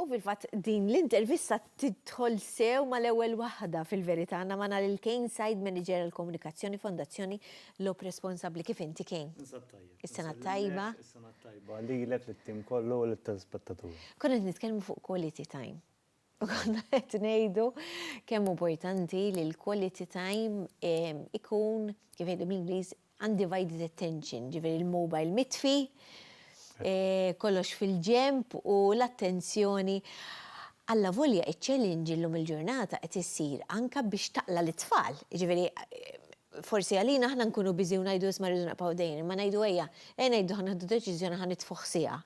U fil-fatt din l-intervista tidħol sew mal-ewwel waħda fil-verità għandna magħna lil Kane Said Manager għal Komunikazzjoni Fondazzjoni Lob Responsabbli. Kif inti Kane? Ninsab tajjeb. Is-sena t-tajba. Is-sena t-tajba lilek, lit-tim kollu u lit-telespettaturi. Konna qed nitkellmu fuq quality time. Konna qed ngħidu kemm importanti li l-quality time ikun, kif jgħidu bl-Ingliż, undivided attention, ġifieri l-mobile mitfi, kollox fil-ġenb u l-attenzjoni. Allavolja iċ-challenge illum il-ġurnata qed issir anke biex taqla' lit-tfal, jiġifieri forsi għalina aħna nkunu busy u ngħidu isma' rridu nibqgħu dejjin, imma ngħidu ejja, ejja ngħidu ħa nieħdu deċiżjoni ħa nitfuh siegħa.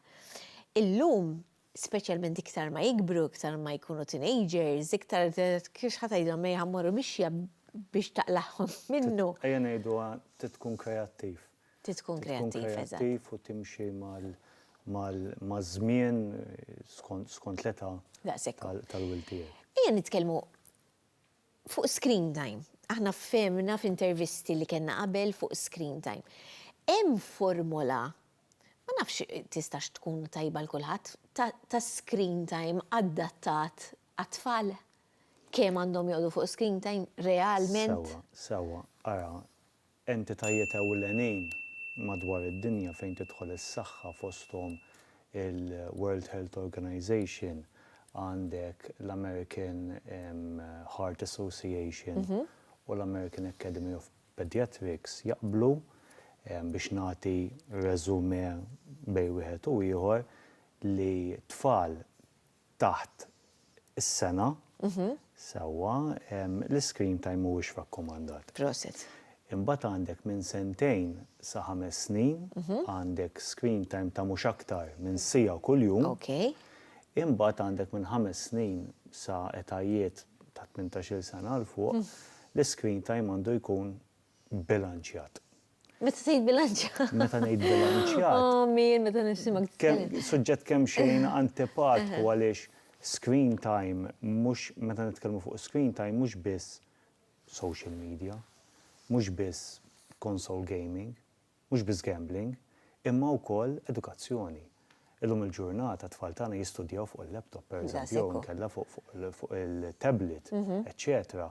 Illum speċjalment iktar ma jikbru, iktar ma jkunu teenagers, iktar kif ħa tgħidilhom mejn ħa mmorru mixja biex taqlagħhom minnu. Ejja ngħiduha trid tkun kreattiv. Trid tkun kreattiv, eżatt. Trid tkun kreattiv u timxi maż-żmien skont l-età tal-wild tiegħek. Ejja nitkellmu fuq screen time. Aħna fehimna f'intervisti li kellna qabel fuq screen time. Hemm formola Ma nafx tistax tkun tajba għal kulħadd, ta' screen time adattat għat-tfal? Kemm għandhom joqogħdu fuq screen time realment? Sewwa, sewwa, ara, entitajiet ewlenin madwar id-dinja fejn tidħol is-saħħa fosthom il-World Health Organization, għandek l-American Heart Association u l-American Academy of Pediatrics jaqblu biex nagħti résumé bejn wieħed u ieħor li tfal taħt is-sena, sewwa, l-iscreen time mhuwiex rakkomandat. Prosit. Imbagħad għandek minn sentejn sa ħames snin għandek screen time ta' mhux aktar minn siegħa kuljum. Okay. Imbagħad għandek minn ħames snin sa etajiet ta' tmintax-il sena 'l fuq L-iscreen time għandu jkun bilanċjat. Meta tgħid bilanċjat? Meta ngħid bilanċjat. Oh Mir, meta nisimgħek titkellem. Suġġett kemm xejn antipatku għaliex screen time mhux meta nitkellmu fuq screen time mhux biss social media, mhux biss console gaming. Mhux biss gambling, imma wkoll edukazzjoni. Illum il-ġurnata t-tfal tagħna jistudjaw fuq il-laptop, pereżempju, jew inkella fuq il-tablet, eċċetera.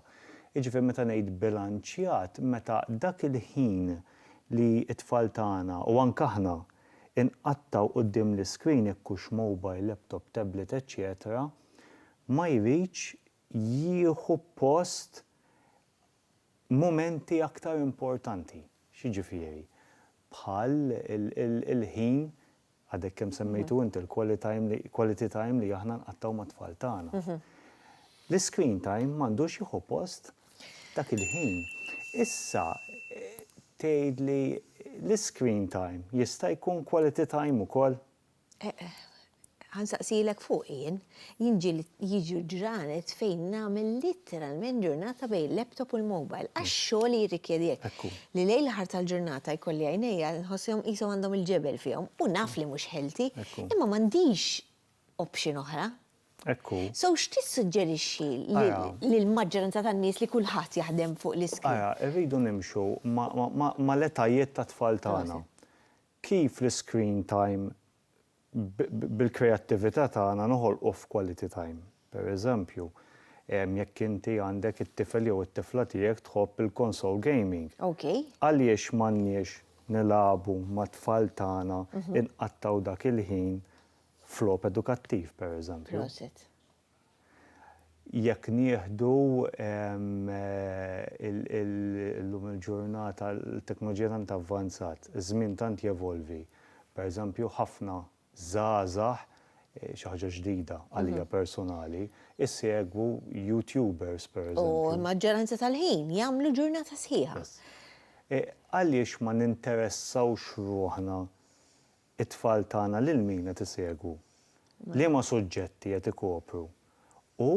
Jiġifieri meta ngħid bilanċjat, meta dak il-ħin li t-tfal tagħna, u anke aħna, inqattgħu quddiem l-iscreen, jekk hux mobile, laptop, tablet, eċċetera, ma jridx jieħu post mumenti aktar importanti, x'jiġifieri, bħal il-ħin, għadek kemm semmejtu inti l-quality time li aħna nqattgħu mat-tfal tagħna. L-iscreen time m'għandux jieħu post dak il-ħin. Issa tgħidli l-iscreen time jista' jkun quality time ukoll? Ħa nsaqsilek fuq jien. Jien jiġu ġranet fejn nagħmel litteralment ġurnata bejn laptop u l-mobile għax xogħli jirrikjedi hekk. Li lejl l-aħħar tal-ġurnata jkolli għajnejja nħosshom qishom għandhom il-ġebel fihom u naf li mhux healthy, imma m'għandix option oħra. Hekk hu. So x'tissuġġerixxi lill-maġġoranza tan-nies li kulħadd jaħdem fuq l-iskrin? Ara, irridu nimxu mal-etajiet tat-tfal tagħna. Kif l-iscreen time bil-kreattività tagħna noħolqu f'quality time. Per eżempju, jekk inti għandek it-tifel jew it-tifla tiegħek tħobb il-console gaming, għaliex m'għandniex nilagħbu mat-tfal tagħna, inqattgħu dak il-ħin f'logħob edukattiv, per eżempju. Jekk nieħdu llum il-ġurnata l-teknoloġija tant avvanzat, iż-żmien tant jevolvi, pereżempju ħafna żgħażagħ, xi ħaġa ġdida għalija personali, isegwu YouTubers pereżempju. U l-maġġoranza tal-ħin jagħmlu ġurnata sħiħa. Għaliex ma ninteressawx ruħna It-tfal tagħna lil min qed isegwu? Liema suġġetti qed ikopru? U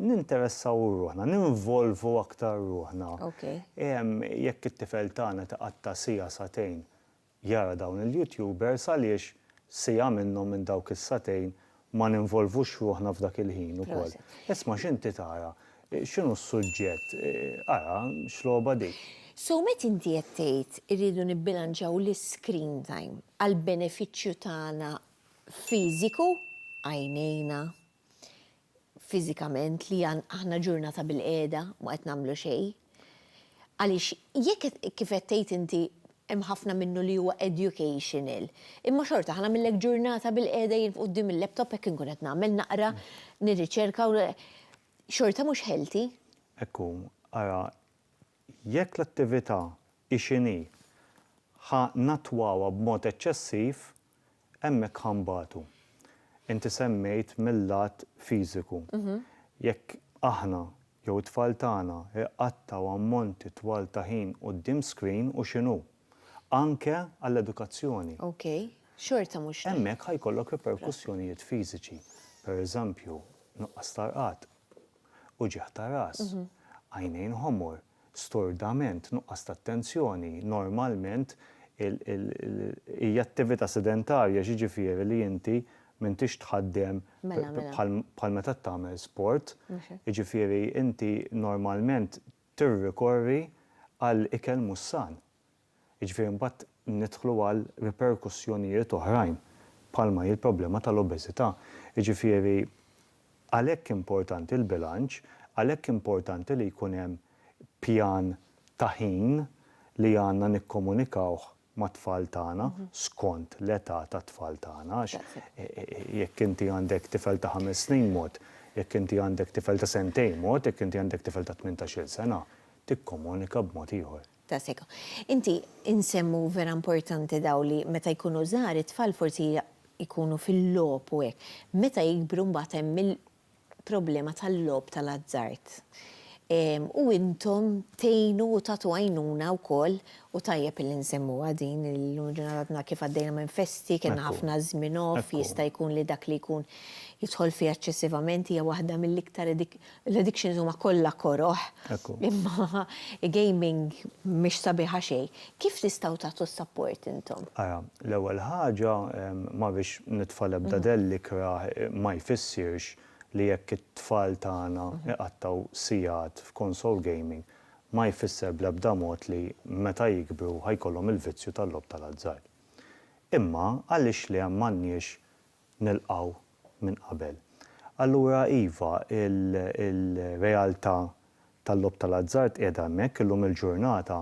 ninteressaw ruħna, ninvolvu aktar ruħna. Jekk it-tifel tagħna qed iqatta' siegħa sagħtejn jara dawn il-YouTubers għaliex siegħa minnhom minn dawk is-sagħtejn ma ninvolvux ruħna f'dak il-ħin ukoll. Isma' x'inti tara, x'inhu s-suġġett, ara x'logħba dik. So meta inti qed tgħid irridu nibbilanċjaw l-iscreen time għall-benefiċċju tagħna fiżiku, għajnejna, fiżikament li aħna ġurnata bilqiegħda ma qed nagħmlu xejn, Għaliex jekk kif qed tgħid inti hemm ħafna minnu li huwa educational, imma xorta ħa nagħmillek ġurnata bil-qiegħda jien quddiem il-laptop hekk inkun qed nagħmel naqra, nirriċerka u xorta mhux healthy. Hekk hu, ara jekk l-attività hi x'inhi ħa nattwawha b'mod eċċessiv hemmhekk ħa nbatu. Inti semmejt mil-lat fiżiku. Jekk aħna jew it-tfal tagħna jqattgħu ammonti twal ta' ħin quddiem screen u x'inhu. Anke għall-edukazzjoni. Ok. Xorta mhux tajjeb. Hemmhekk ħa jkollok riperkussjonijiet fiżiċi. Per eżempju, nuqqas ta' rqad, uġigħ ta' ras, għajnejn ħomor. stordament, nuqqas ta' attenzjoni, normalment hija attività sedentarja, jiġifieri li inti m'intix tħaddem bħal meta tagħmel sport, jiġifieri inti normalment tirrikorri għal ikel mhux san. Jiġifieri mbagħad nidħlu għal riperkussjonijiet oħrajn bħalma hi l-problema tal-obeżità. Jiġifieri għalhekk importanti l-bilanċ, għalhekk importanti li jkun hemm pjan ta' ħin li għandna nikkomunikawh mat-tfal tagħna skont l-età tat-tfal tagħna għax jekk inti għandek tifel ta' ħames snin mod, jekk inti għandek tifel ta' sentejn mod, jekk inti għandek tifel ta' tmintax-il sena tikkomunika b'mod ieħor. ta' seka. Inti insemmu vera importanti daw li meta jkunu żgħar it-tfal forsi jkunu fil-logħob u hekk. Meta jikbru mbagħad hemm il-problema tal-logħob tal-azzard. U intom tgħinu u tagħtu għajnuna wkoll u tajjeb illi nsemmuha din illum il-ġurnata għadna kif għaddejna minn festi, kellna ħafna żmien off, jista' jkun li dak li jkun jidħol fih eċċessivament hija waħda mill-iktar L-addictions huma kollha koroh, imma gaming mhix sabiħa xejn. Kif tistgħu tagħtu s-sapport intom? Ara, l-ewwel ħaġa, ma rridx nitfa' l-ebda dell ikrah, ma jfissirx li jekk it-tfal tagħna iqattgħu sigħat f'console gaming, ma jfisser bl-ebda mod li meta jikbru ħa jkollhom il-vizzju tal-logħob tal-azzard. Imma għaliex le m'għandniex nilqgħu minn qabel. Allura iva, il-realtà tal-logħob tal-azzard qiegħda hemmhekk. Illum il-ġurnata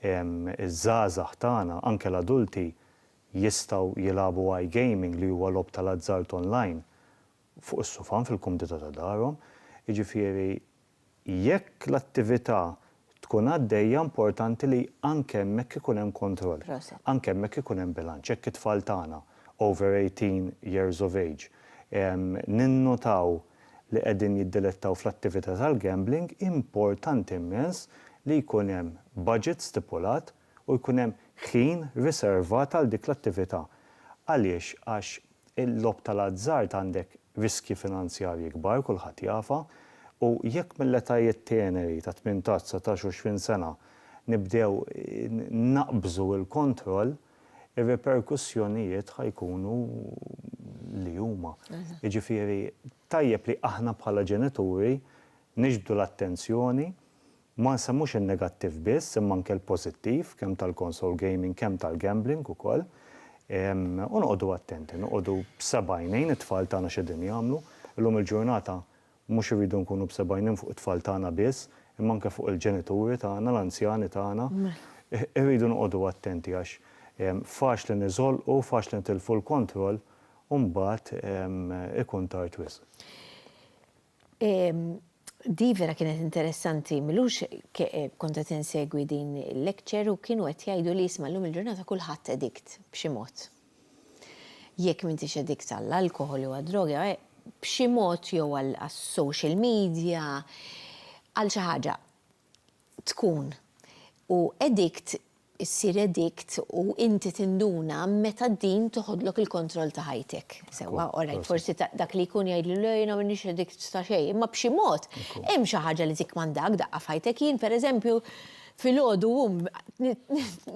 iż-żgħażagħ tagħna, anke l-adulti, jistgħu jilagħbu iGaming li huwa logħob tal-azzard online fuq is-sufan fil-kumdità ta' darhom. Jiġifieri Jekk l-attività tkun għaddejja importanti li anke hemmhekk ikun hemm kontroll. Proset. Anke hemmhekk ikun hemm bilanċ. Jekk it-tfal tagħna over 18 years of age ninnutaw li qegħdin jiddilettaw fl-attività tal-gambling, importanti immens li jkun hemm budget stipulat u jkun hemm ħin riservat għal dik l-attività. Għaliex? Għax il-logħob tal-azzard għandek riskji finanzjarji kbar, kulħadd jafha, u jekk mill-etajiet teneri ta' tmintax, dsatax u għoxrin sena nibdew naqbżu l-kontroll, ir-riperkussjonijiet ħa jkunu li huma. Jiġifieri tajjeb li aħna bħala ġenituri niġbdu l-attenzjoni Ma nsemmux in-negattiv biss imma anke l-pożittiv kemm tal-console gaming kemm tal-gambling ukoll. U noqogħdu attenti, noqogħdu b'seba' għajnejn it-tfal tagħna x'qegħdin jagħmlu. Illum il-ġurnata mhux irridu nkunu b'seba' għajnejn fuq it-tfal tagħna biss imma anke fuq il-ġenituri tagħna, l-anzjani tagħna. Irridu noqogħdu attenti għax faċli niżolqu, faċli nitilfu l-kontroll u mbagħad ikun tard wisq. Di vera kienet interessanti, m'ilux kont qed insegwi din il-lecture u kienu qed jgħidu li isma' llum il-ġurnata kulħadd edikt b'xi mod. Jekk m'intix edikt għall-alkoħol jew għad-droga, b'xi mod jew għas-social media, għal xi ħaġa. tkun u edict issir edict u inti tinduna meta d-din teħodlok il-kontroll ta' ħajtek. Sewwa, orajt, forsi dak li jkun jgħidli le jiena m'iniex edict ta' xejn, imma b'xi mod hemm xi ħaġa li tikkmandak daqqa f'ħajtek. Jien pereżempju filgħodu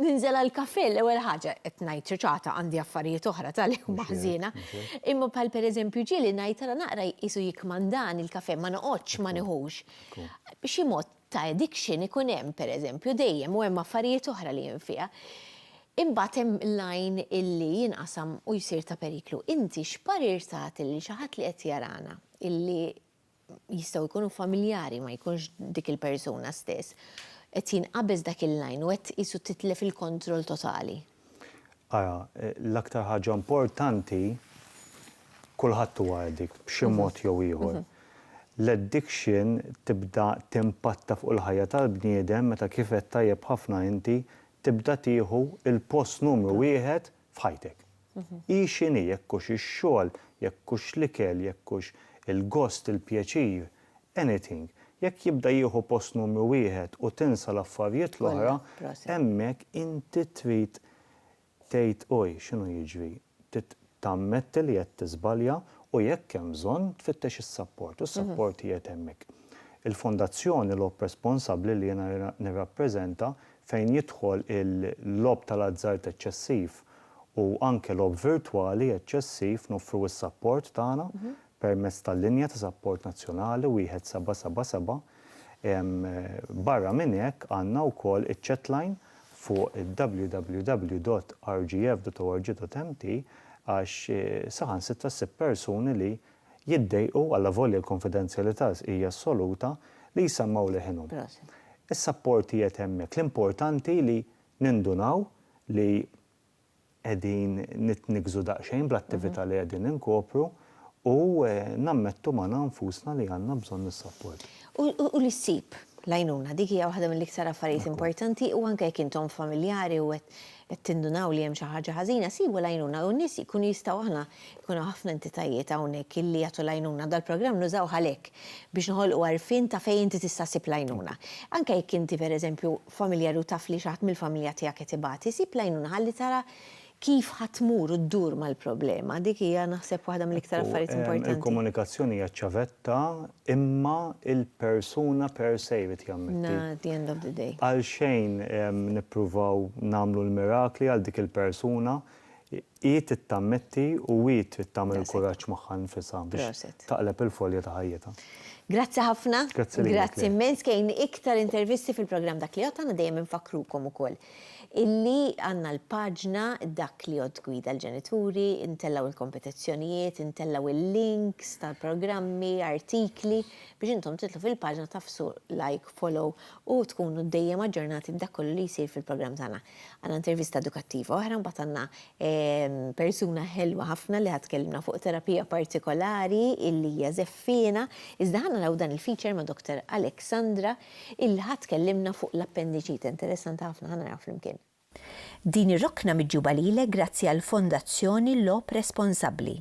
ninżel għall-kafè l-ewwel ħaġa, qed ngħid ċuċata għandi affarijiet oħra tal-ilma ħżiena, imma bħal pereżempju ġieli ngħid ara naqra jqisu jikkmandani l-kafè ma noqgħodx ma nieħux. B'xi mod ta' addiction ikun hemm pereżempju dejjem u hemm affarijiet oħra li hemm fiha. Imbagħad hemm l-għajn illi jinqasam u jsir ta' periklu. Inti x'parir tagħti lil xi ħadd li qed jarana illi jistgħu jkunu familjari ma jkunx dik il-persuna stess, qed jinqabeż dak il-għajn u qed qisu titlef il-kontroll totali? Ara, l-aktar ħaġa importanti, kulħadd huwa addict b'xi mod jew ieħor. L-addiction tibda timpatta fuq il-ħajja tal-bniedem meta kif għedt tajjeb ħafna inti, tibda tieħu l-post numru wieħed f'ħajtek. Hi x'inhi, jekk hux ix-xogħol, jekk hux l-ikel, jekk hux il-gost, il-pjaċir, anything, jekk jibda jieħu post numru wieħed u tinsa l-affarjiet l-oħra, hemmhekk inti trid tgħid oj, x'inhu jiġri? Trid tammetti li qed tiżbalja u jekk hemm bżonn tfittex is-sapport u s-sapport qiegħed hemmhekk. Il-fondazzjoni logħob responsabbli li jiena nirrappreżenta fejn jidħol il-logħob tal-azzard eċċessiv u anke logħob virtwali eċċessiv noffru s-sapport tagħna permezz tal-linja ta' sapport nazzjonali 1777. Barra minn hekk għandna wkoll iċ-chatline fuq www.rgf.org.mt għax saħansitra ssib persuni li jiddejqu, allavolja l-kunfidenzjalità hija assoluta, li jsemmgħu leħinhom. Is-sapport qiegħed hemmhekk. L-importanti li nindunaw li qegħdin nitniggżu daqsxejn bl-attività li qegħdin inkopru u nammettu magħna nfusna li għandna bżonn is-sapport. U li ssib l-għajnuna, dik hija waħda mill-iktar affarijiet importanti u anke jekk intom familjari u qed tindunaw li hemm xi ħaġa ħażina, sibu l-għajnuna u n-nies jkunu jistgħu aħna jkun hawn ħafna entitajiet hawnhekk illi jagħtu l-għajnuna, dal-programm nużawh għalhekk, biex noħolqu għarfien ta' fejn inti tista' ssib l-għajnuna. Anke jekk inti pereżempju familjari u taf li xi ħadd mill-familja tiegħek qed ibati, sib l-għajnuna ħalli tara kif ħa tmur u ddur mal-problema. Dik hija naħseb waħda mill-iktar affarijiet importanti. Il-komunikazzjoni hija ċ-ċavetta imma il-persuna per se jrid jammetti. Na, at the end of the day. Għalxejn nippruvaw nagħmlu l-mirakli għal dik il-persuna, Hi trid tammetti u hi trid tagħmel il-kuraġġ magħha nnfisha biex taqleb il-folja ta' ħajjitha. Grazzi ħafna. Grazzi lilek. Grazzi immens kejn iktar intervisti fil-programm Dak li Għodd Għandna dejjem infakkrukom ukoll illi għandna l-paġna Dak li Għodd Gwida l-Ġenituri, intellgħu l-kompetizzjonijiet, intellgħu il-links tal-programmi, artikli biex intom tidħlu fil-paġna tagħfsu like, follow u tkunu dejjem aġġornati b'dak kollu li jsir fil-programm tagħna. Għandna intervista edukattiva oħra, mbagħad għandna persuna ħelwa ħafna li ħad tkellimna fuq terapija partikolari illi hija żeffiena, iżda ħanna naraw dan il-feature ma' Dr. Alexandra illi ħad tkellimna fuq l-appendiċite interessanti ħafna ħa naraw flimkien. Din ir-rokna miġjuba lilek grazzi għall-Fondazzjoni Logħob Responsabbli.